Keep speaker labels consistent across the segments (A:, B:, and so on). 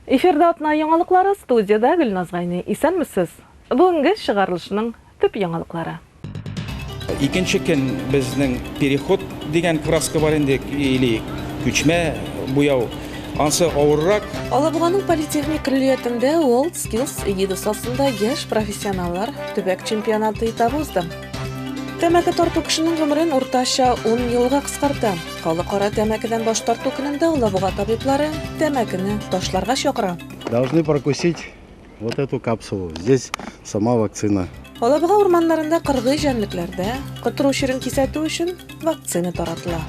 A: Эфирда атна яңалыклары, студиядә Гөлназ Гайни. Исәнмесез! Бүгенге чыгарылышның төп яңалыклары. Икенче көн безнең переход дигән краска бар инде, или күчмә буяу. Ансы авыррак. Алабуганың политехник көллиятендә World Skills эгидасы астында яшь профессионаллар төбәк чемпионаты этабы узды. Тәмәке тарту кешенең гомерен уртача 10 елга кыскарта. Халыкара тәмәкедән баш тарту көнендә Алабуга табиблары тәмәкене ташларга чакыра. Должны прокусить вот эту капсулу. Здесь сама вакцина. Алабуга урманнарында кыргый җәнлекләрдә котыру чирен кисәтү өчен вакцина таратыла.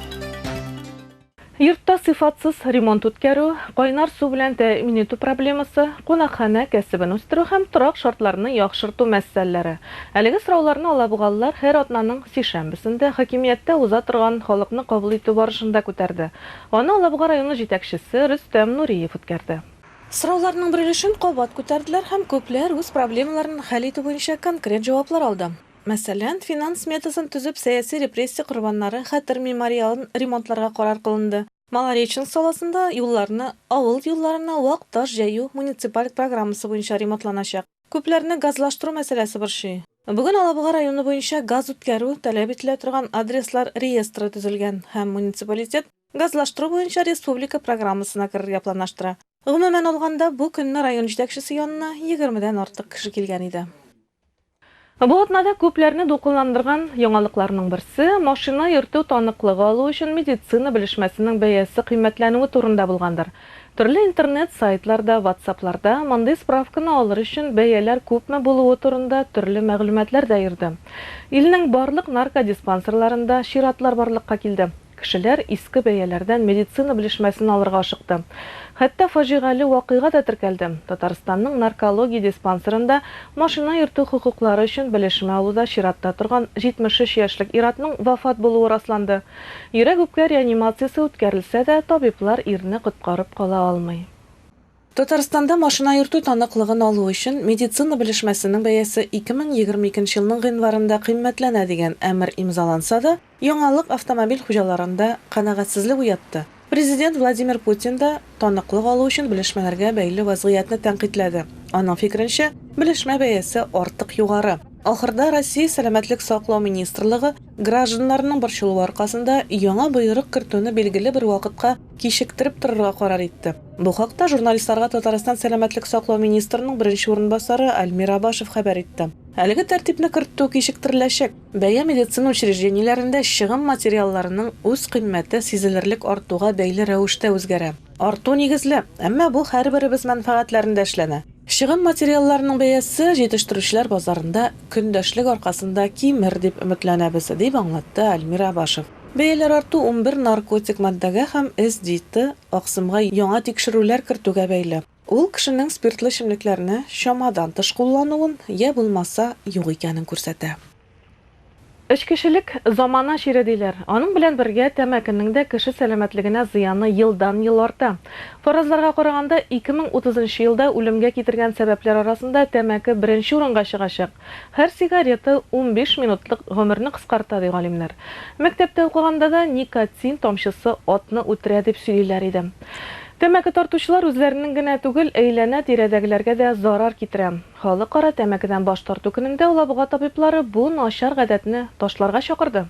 A: Йортта сыйфатсыз ремонт үткәрү, кайнар су белән тәэмин итү проблемасы, кунакханә кәсебен үстерү һәм торак шартларны яхшырту мәсьәләләре. Әлеге сорауларны алабугалылар һәр атнаның сишәмбесендә хакимияттә уза торган халыкны кабул итү барышында күтәрде. Аны Алабуга районы җитәкчесе Рөстәм Нуриев үткәрде. Сорауларның бер өлешен кабат күтәрделәр һәм күпләр үз проблемаларын хәл итү буенча конкрет җаваплар алды. Мәсәлән, финанс сметасын төзеп, сәяси репрессия корбаннары хәтер мемориалын ремонтларга карар кылынды. Малореченск саласында юлларны авыл юлларына вак таш җәю муниципаль программасы буенча ремонтланачак. Күпләрне газлаштыру мәсьәләсе борчый. Бүген Алабуга районы буенча газ үткәрү таләп ителә торган адреслар реестры төзелгән һәм муниципалитет газлаштыру буенча республика программасына керергә планлаштыра. Гомумән алганда, бу көнне район җитәкчесе янына егермедән артык кеше килгән иде. Бу атнада күпләрне дулкынландырган яңалыкларның берсе, машина йөртү таныклыгы алу өчен медицина белешмәсенең бәясе кыйммәтләнүе турында булгандыр. Төрле интернет сайтларда, ватсапларда мондый справканы алыр өчен бәяләр күпме булуы турында төрле мәгълүматлар да йөрде. Илнең барлык наркодиспансерларында чиратлар барлыкка килде. Кешеләр иске бәяләрдән медицина белешмәсен алырга ашыкты. Хәтта фаҗигале вакыйга да теркәлде, Татарстанның наркология диспансерында машина йөртү хокуклары өчен белешмә алуда чиратта торган 73 яшьлек ир-атның вафат булуы расланды. Йөрәк-үпкә реанимациясе үткәрелсә дә, табиблар ирне коткарып кала алмый. Татарстанда машина йөртү таныклыгын алу өчен медицина белешмәсенең бәясе 2022 елның гыйнварында кыйммәтләнә дигән әмер имзаланса да, яңалык автомобиль хуҗаларында канәгатьсезлек уятты. Президент Владимир Путин да таныклык алу өчен белешмәләргә бәйле вазгыятьне тәнкыйтьләде. Аның фикеренчә, белешмә бәясе артык югары. Ахырда Россия Сәламәтлек саклау министрлыгы гражданнарның борчылуы аркасында яңа боерык кертүне билгеле бер вакытка кичектереп торырга карар итте. Бу хакта журналистларга Татарстан сәламәтлек саклау министрының беренче урынбасары Альмир Абашев хәбәр итте. Әлеге тәртипне кертү кичектереләчәк. Бәя медицина учреждениеләрендә чыгым материалларының үз кыйммәте сизелерлек артуга бәйле рәвештә үзгәрә. Арту нигезле, әмма бу һәрберебез мәнфәгатьләрендә эшләнә. Чыгым материалларының бәясе җитештерүчеләр базарында көндәшлек аркасында кимер дип өметләнәбез, дип аңлатты Альмир Абашев. Бәяләр арту унбер наркотик матдәгә һәм СДИТы аксымга яңа тикшерүләр кертүгә бәйле. Ул кешенең спиртлы эчемлекләрне чамадан тыш куллануын йә булмаса юк икәнен күрсәтә. Эчкечелек, замана чире диләр. Аның белән бергә тәмәкенең дә кеше сәламәтлегенә зыяны елдан-ел арта. Фаразларга караганда, ике мең утызынчы елда үлемгә китергән сәбәпләр арасында тәмәке беренче урынга чыгачак. Һәр сигарета унбиш минутлык гомерне кыскарта, ди галимнәр. Мәктәптә укыганда да никотин тамчысы атны үтерә дип сөйлиләр иде. Тәмәке тартучылар үзләренең генә түгел, әйләнә-тирәдәгеләргә дә зарар китерә. Халыкара тәмәкедән баш тарту көнендә Алабуга табиблары бу начар гадәтне ташларга чакырды.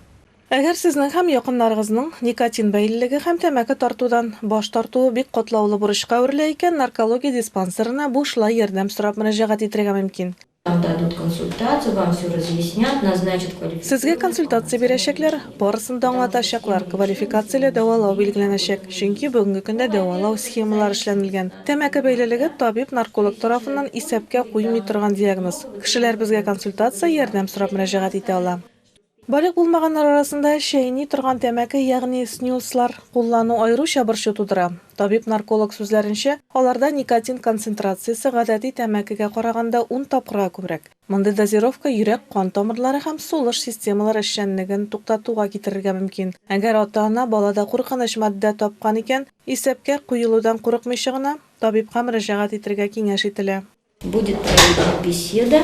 A: Әгәр сезнең һәм якыннарыгызның никотин бәйлелеге һәм тәмәке тартудан баш тартуы бик катлаулы бурычка әверелә икән, наркология диспансерына бушлай ярдәм сорап мөрәҗәгать итәргә мөмкин. Вам дадут консультацию, вам все разъяснят, назначат квалификацию. Сезгә консультация бирәчәкләр, барысын да аңлатачаклар, квалификацияле дәвалау билгеләнәчәк, чөнки бүгенге көндә дәвалау схемалары эшләнелгән. Тәмәке бәйлелеге табиб-нарколог тарафыннан исәпкә куймый торган диагноз. Кешеләр безгә консультация, ярдәм сорап мөрәҗәгать итә ала. Балигъ булмаганнар арасында чәйни торган тәмәке, ягъни снюслар, куллану аеруча борчу тудыра. Табиб-нарколог сүзләренчә, аларда никотин концентрациясе гадәти тәмәкегә караганда ун тапкырга күбрәк. Мондый дозировка йөрәк-кан тамырлары һәм сулыш системалары эшчәнлеген туктатуга китерергә мөмкин. Әгәр ата-ана балада куркыныч матдә тапкан икән, исәпкә куелудан курыкмыйча гына, табибка мөрәҗәгать итергә киңәш ителә. Будет проведена беседа.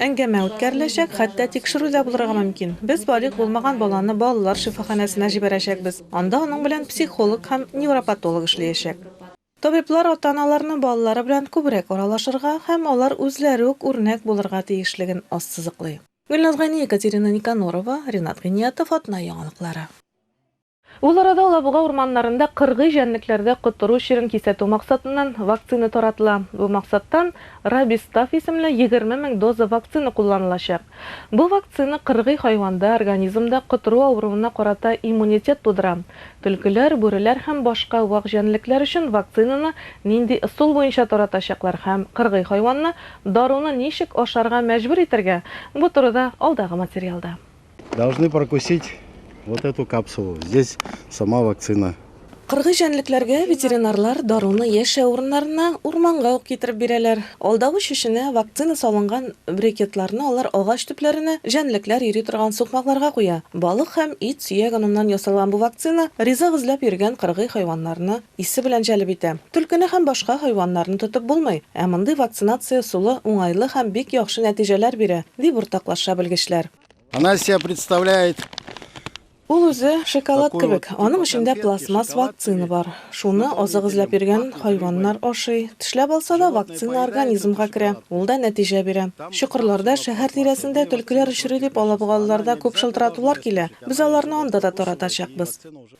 A: Әңгәмә үткәреләчәк, хәтта тикшерү дә булырга мөмкин. Без балигъ булмаган баланы балалар шифаханәсенә җибәрәчәкбез. Анда аның белән психолог һәм невропатолог эшлиячәк. Табиблар ата-аналарны балалары белән күбрәк аралашырга һәм алар үзләре үк үрнәк булырга тиешлеген ассызыклый. Гөлназ Гани, Екатерина Никонорова, Ринат Гыйниятов, Атна яңалыклары. Ул арада Алабуга урманнарында кыргый җәнлекләрдә котыру чирен кисәтү максатыннан вакцина таратыла. Бу максаттан Рабистаф исемле егерме мең доза вакцина кулланылачак. Бу вакцина кыргый хайванда организмда котыру авыруына карата иммунитет тудыра. Төлкеләр, бүреләр һәм башка вак җәнлекләр өчен вакцинаны нинди ысул буенча таратачаклар һәм кыргый хайванны даруны ничек ашарга мәҗбүр итәргә, бу турыда алдагы материалда. Должны прокусить вот эту капсулу. Здесь сама вакцина. Кыргый җәнлекләргә ветеринарлар даруны яшәү урыннарына, урманга ук китереп бирәләр. Алдавыч эченә вакцина салынган брекетларны алар агач төпләренә, җәнлекләр йөри торган сукмакларга куя. Балык һәм ит сөяк оныннан ясалган бу вакцина ризык эзләп йөргән кыргый хайваннарны Исе белән җәлеп итә. Төлкене һәм башка хайваннарны тотып булмый, ә мондый вакцинация ысулы уңайлы һәм бик яхшы нәтиҗәләр бирә, дип уртаклаша белгечләр. Она из себя представляет. Ул үзе шоколад кебек, аның эчендә пластмасс вакцина бар. Шуны азык эзләп йөргән хайваннар ашый. Тешләп алса да, вакцина организмга керә, ул да нәтиҗә бирә. Чокырларда, шәһәр тирәсендә төлкеләр очрый дип алабугалыларда күп шылтыратулар килә. Без аларны анда да таратачакбыз.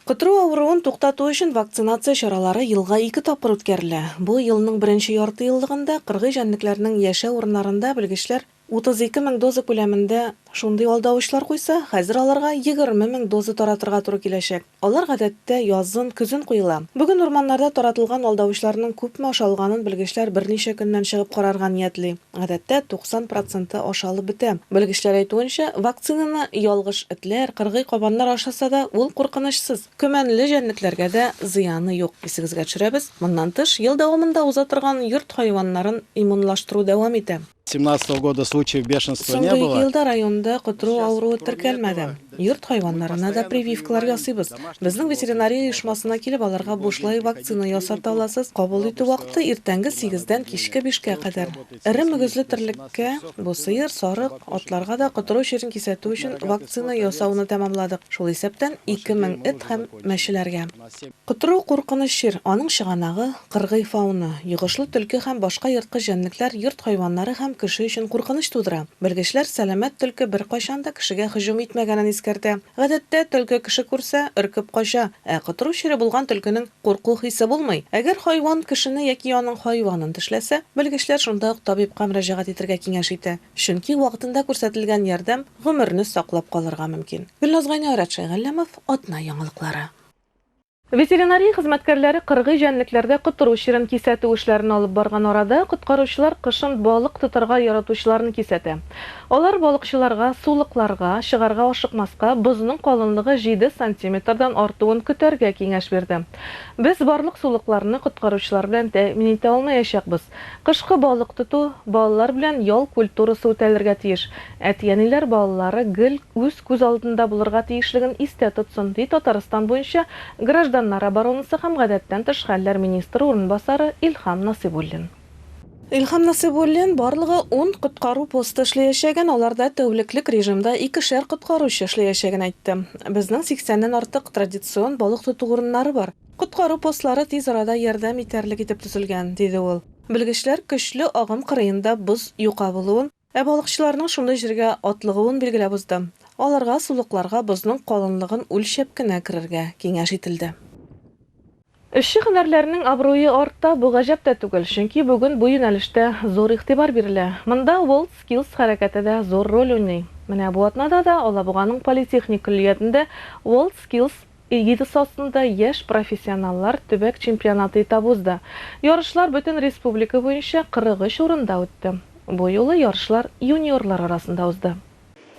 A: Котыру авыруын туктату өчен вакцинация чаралары елга ике тапкыр үткәрелә. Бу елның беренче яртыеллыгында кыргый җәнлекләрнең яшәү урыннарында белгечләр 32 мең доза күләмендә шундый алдавычлар куйса, хәзер аларга 20 мең доза таратырга туры киләчәк. Алар гадәттә язын, көзен куела. Бүген урманнарда таратылган алдавычларның күпме ашалганын белгечләр берничә көннән чыгып карарга ниятли. Гадәттә, 90 проценты ашалып бетә. Белгечләр әйтүенчә, вакцинаны ялгыш этләр, кыргый кабаннар ашаса да, ул куркынычсыз. Көмәнле җәнлекләргә дә зыяны юк. Исегезгә төшерәбез, моннан тыш, ел дәвамында уза торган йорт хайваннарын иммунлаштыру дәвам итә. Соңгы ике елда районда котру авыруы теркәлмәде. Йорт хайваннарына да прививкалар ясыйбыз. Безнең ветеринария оешмасына килеп, аларга бушлай вакцина ясата аласыз. Кабул итү вакыты, иртәнге сигездән кичке бишкә кадәр. Эре мөгезле терлеккә, бу сыер, сарык, атларга да котыру чирен кисәтү өчен вакцина ясауны тәмамладык, шул исәптән ике мең эт һәм мәчеләргә. Т. Котыру куркыныч чир, аның чыганагы, кыргый фауна, йогышлы төлке һәм башка ерткыч җәнлекләр йорт хайваннары һәм кеше өчен куркыныч тудыра. Белгечләр сәламәт төлке беркайчан да кешегә һөҗүм итмәгәнен искәртә. Гадәттә, төлке кеше күрсә, өркеп кача, ә котыру чире булган төлкенең курку хисе булмый. Әгәр хайван кешене яки аның хайванын тешләсә, белгечләр шунда ук табибка мөрәҗәгать итергә киңәш итә, чөнки вакытында күрсәтелгән ярдәм гомерне саклап калырга мөмкин. Гөлназ Гайнеорәт Шәйгалләмов, Атна яңалыклары. Ветеринария хезмәткәрләре кыргый җәнлекләргә котыру чирен кисәтү эшләрен алып барган арада, коткаручылар кышын балык тотарга яратучыларны кисәтә. Алар балыкчыларга сулыкларга чыгарга ашыкмаска, бозның калынлыгы җиде сантиметрдан артуын көтәргә киңәш бирде. Без барлык сулыкларны коткаручылар белән тәэмин итә алмаячакбыз. Кышкы балык тоту, балалар белән ял культурасы үтәлергә тиеш. Әти-әниләр балалары гел үз күз алдында булырга тиешлеген истә тотсын, ди Татарстан буенча гражданнар оборонасы һәм гадәттән тыш хәлләр министры урынбасары Илһам Насыйбуллин. Илһам Насыйбуллин, барлыгы ун коткару посты эшләячәген, аларда тәүлеклек режимда икешәр коткаручы эшләячәген әйтте. Безнең сиксәннән артык традицион балык тоту урыннары бар. Коткару постлары тиз арада ярдәм итәрлек итеп төзелгән, диде ул. Белгечләр көчле агым кырыенда боз юка булуын, Ә балыкчыларның шундый җиргә атлыгуын билгеләп уздым. Аларга сулыкларга бозның калынлыгын үлчәп кенә керергә киңәш ителде. Эшче һөнәрләрнең абруе арта, бу гаҗәп тә түгел, чөнки бүген бу юнәлештә зур игътибар бирелә. Монда WorldSkills хәрәкәте дә зур роль уйный. Менә бу атнада да Алабуганың политехник көллиятендә WorldSkills, Эгидасы астында яшь профессионаллар төбәк чемпионаты этабы узды. Ярышлар бөтен республика буенча 43 урында үтте. Бу юлы ярышлар юниорлар арасында узды.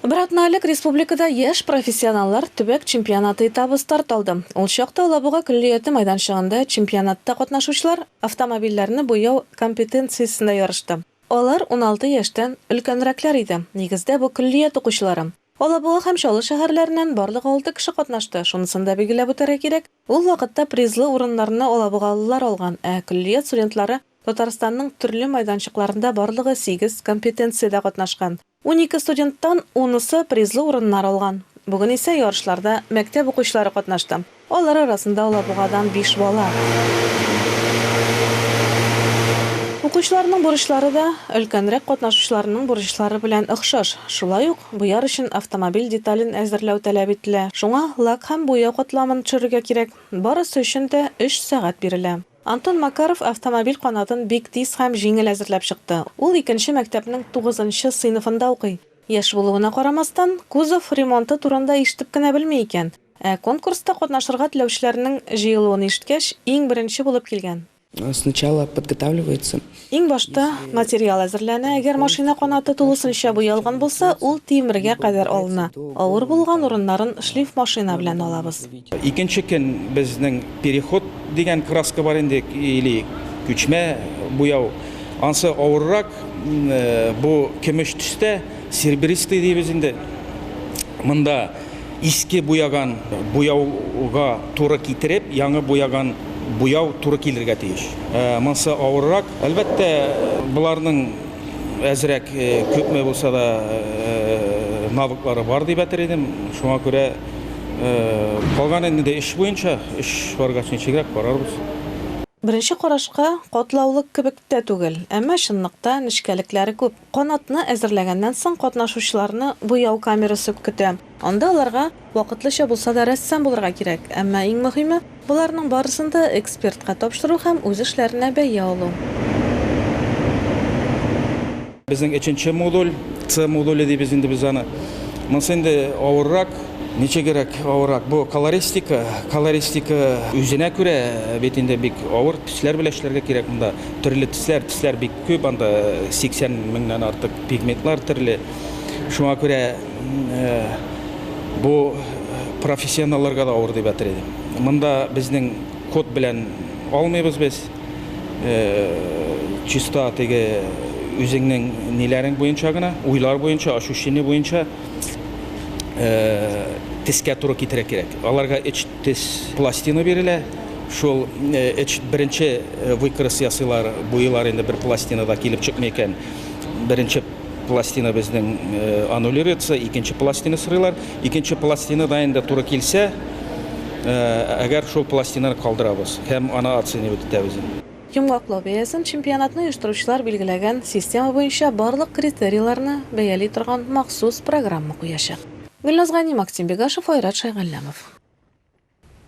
A: Бер атна элек республикада яшь профессионаллар төбәк чемпионаты этабы старт алды. Ул чакта Алабуга көллияте майданчыгында чемпионатта катнашучылар автомобильләрне буяу компетенциясендә ярышты. Алар уналты яшьтән өлкәнрәкләр иде, нигездә бу көллият укучылары. Алабуга һәм Чаллы шәһәрләреннән барлыгы алты кеше катнашты. Шунысын да билгеләп үтәргә кирәк, ул вакытта призлы урыннарны алабугалылар алган, ә көллият студентлары Татарстанның төрле майданчыкларында барлыгы сигез компетенциядә катнашкан. Унике студенттан унысы призлы урыннар алган. Бүген исә ярышларда мәктәп укучылары катнашты. Алар арасында Алабугадан биш бала. Укучыларның бурычлары да өлкәнрәк катнашучыларның бурычлары белән охшаш. Шулай ук, буяр өчен автомобиль детален әзерләү таләп ителә. Шуңа лак һәм буяу катламын төшерергә кирәк. Барысы өчен дә өч сәгать бирелә. Антон Макаров автомобиль канатын бик тиз һәм җиңел әзерләп чыкты. Ул икенче мәктәпнең тугызынчы сыйныфында укый. Яшь булуына карамастан, кузов ремонты турында ишетеп кенә белми икән. Ә конкурста катнашырга теләүчеләрнең җыелуын ишеткәч, иң беренче булып килгән. Сначала подготавливается. Иң башта материал әзерләнә, әгәр машина канаты тулысынча буялган булса, ул тимергә кадәр алына, авыр булган урыннарын шлифмашина белән алабыз. Икенче көн безнең переход дигән краска бар инде, или күчмә буяу, ансы авыррак, бу көмеш төстә, серебристый дибез инде монда. Иске буяган буяуга туры китереп, яңы буяган буяу туры килергә тиеш. Монсы авыррак. Әлбәттә, боларның әзрәк, күпме булса да, навыклары бар дип әтер идем. Шуңа күрә калган инде эш буенча, эш баргач ничегрәк карарбыз. Беренче карашка катлаулык кебек тә түгел, әмма чынлыкта нечкәлекләре күп. Канатны әзерләгәннән соң, катнашучыларны буяу камерасы көтә. Анда аларга вакытлыча булса да рәссам булырга кирәк, әмма иң мөһиме, боларның барысын да экспертка тапшыру һәм үз эшләренә бәя алу. Безнең өченче модуль, С модуле дибез инде без аны. Монысы инде авыррак. Ничегрәк авыррак? Бу колористика. Колористика үзенә күрә бит инде бик авыр. Төсләр белән эшләргә кирәк монда. Төрле төсләр, төсләр бик. Күп анда 80 меңнән артык пигментлар төрле. Шуңа күрә бу профессионалларга да авыр дип әйтер идем. Монда безнең код белән алмыйбыз без. Чиста теге үзеңнең ниләрең буенча гына, уйлар буенча, ощущение буенча тескә туры китерә кирәк. Аларга Тез пластина бирелә. Шул эч беренче выкрыс ясыйлар, буйылар инде бер пластина да килеп чыкмый икән. Беренче пластина безнең аннулируется, икенче пластина сорыйлар. Икенче пластина да инде туры килсә, әгәр шул пластинаны калдырабыз һәм аны оценивать итәбез. Йомгаклау бәясен чемпионатны оештыручылар билгеләгән система буенча барлык критерийларны бәяли торган махсус программа куячак. Гөлназ Гани, Максим Бегашев, Айрат Шайгалләмов.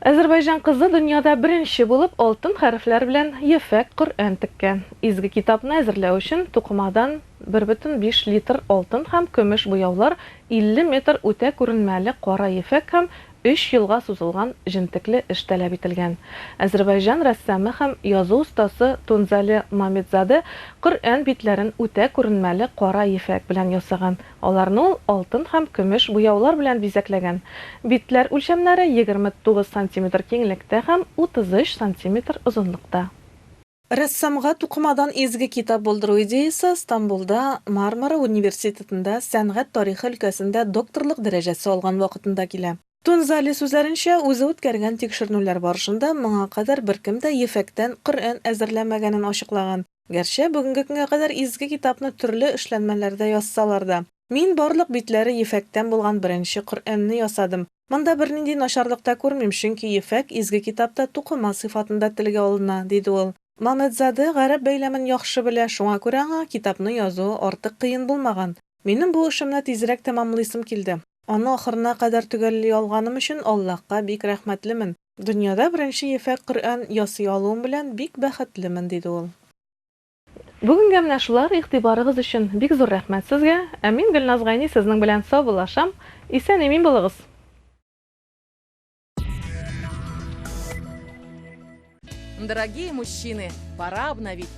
A: Әзербайҗан кызы дөньяда беренче булып алтын хәрефләр белән ефәк Коръән теккән. Изге китапны әзерләү өчен тукымадан 1,5 литр алтын һәм көмеш буяулар, 50 метр үтә күренмәле кара ефәк һәм өч елга сузылган җентекле эш таләп ителгән. Әзербайҗан рәссамы һәм язу остасы Тунзале Мамедзаде Коръән битләрен үтә күренмәле кара ефәк белән ясаган. Аларны ул алтын һәм көмеш буяулар белән бизәкләгән. Битләр үлчәмнәре 29 сантиметр киңлектә һәм 33 сантиметр озынлыкта. Рәссамга тукымадан изге китап булдыру идеясе Стамбулда Мармара университетында сәнгать тарихы өлкәсендә докторлык дәрәҗәсе алган вакытында килә. Тунзали сүзләренчә, үзе үткәргән тикшеренүләр барышында моңа кадәр беркем дә ефәктән Коръән әзерләмәгәнен ачыклаган. Гәрчә бүгенге көнгә кадәр Изге китапны төрле эшләнмәләрдә язсалар да. Мин барлык битләре ефәктән булган беренче Коръәнне ясадым. Монда бернинди начарлык та күрмим, чөнки ефәк Изге китапта тукыма сыйфатында телгә алына, диде ул. Мамедзаде гарәп бәйләмен яхшы белә, шуңа күрә аңа китапны язуы артык кыен булмаган. Минем бу эшемне тизрәк тәмамлыйсым килде. Аны ахырына кадәр төгәлли алганым өчен Аллаһка бик рәхмәтлемен. Дөньяда беренче ефәк Коръән ясый алуым белән бик бәхетлемен, диде ул. Бүгенгә менә шулар, игътибарыгыз өчен бик зур рәхмәт сезгә, ә мин Гөлназ Гайни сезнең белән саубуллашам, исән-имин булыгыз! Дорогие мужчины, пора обновить!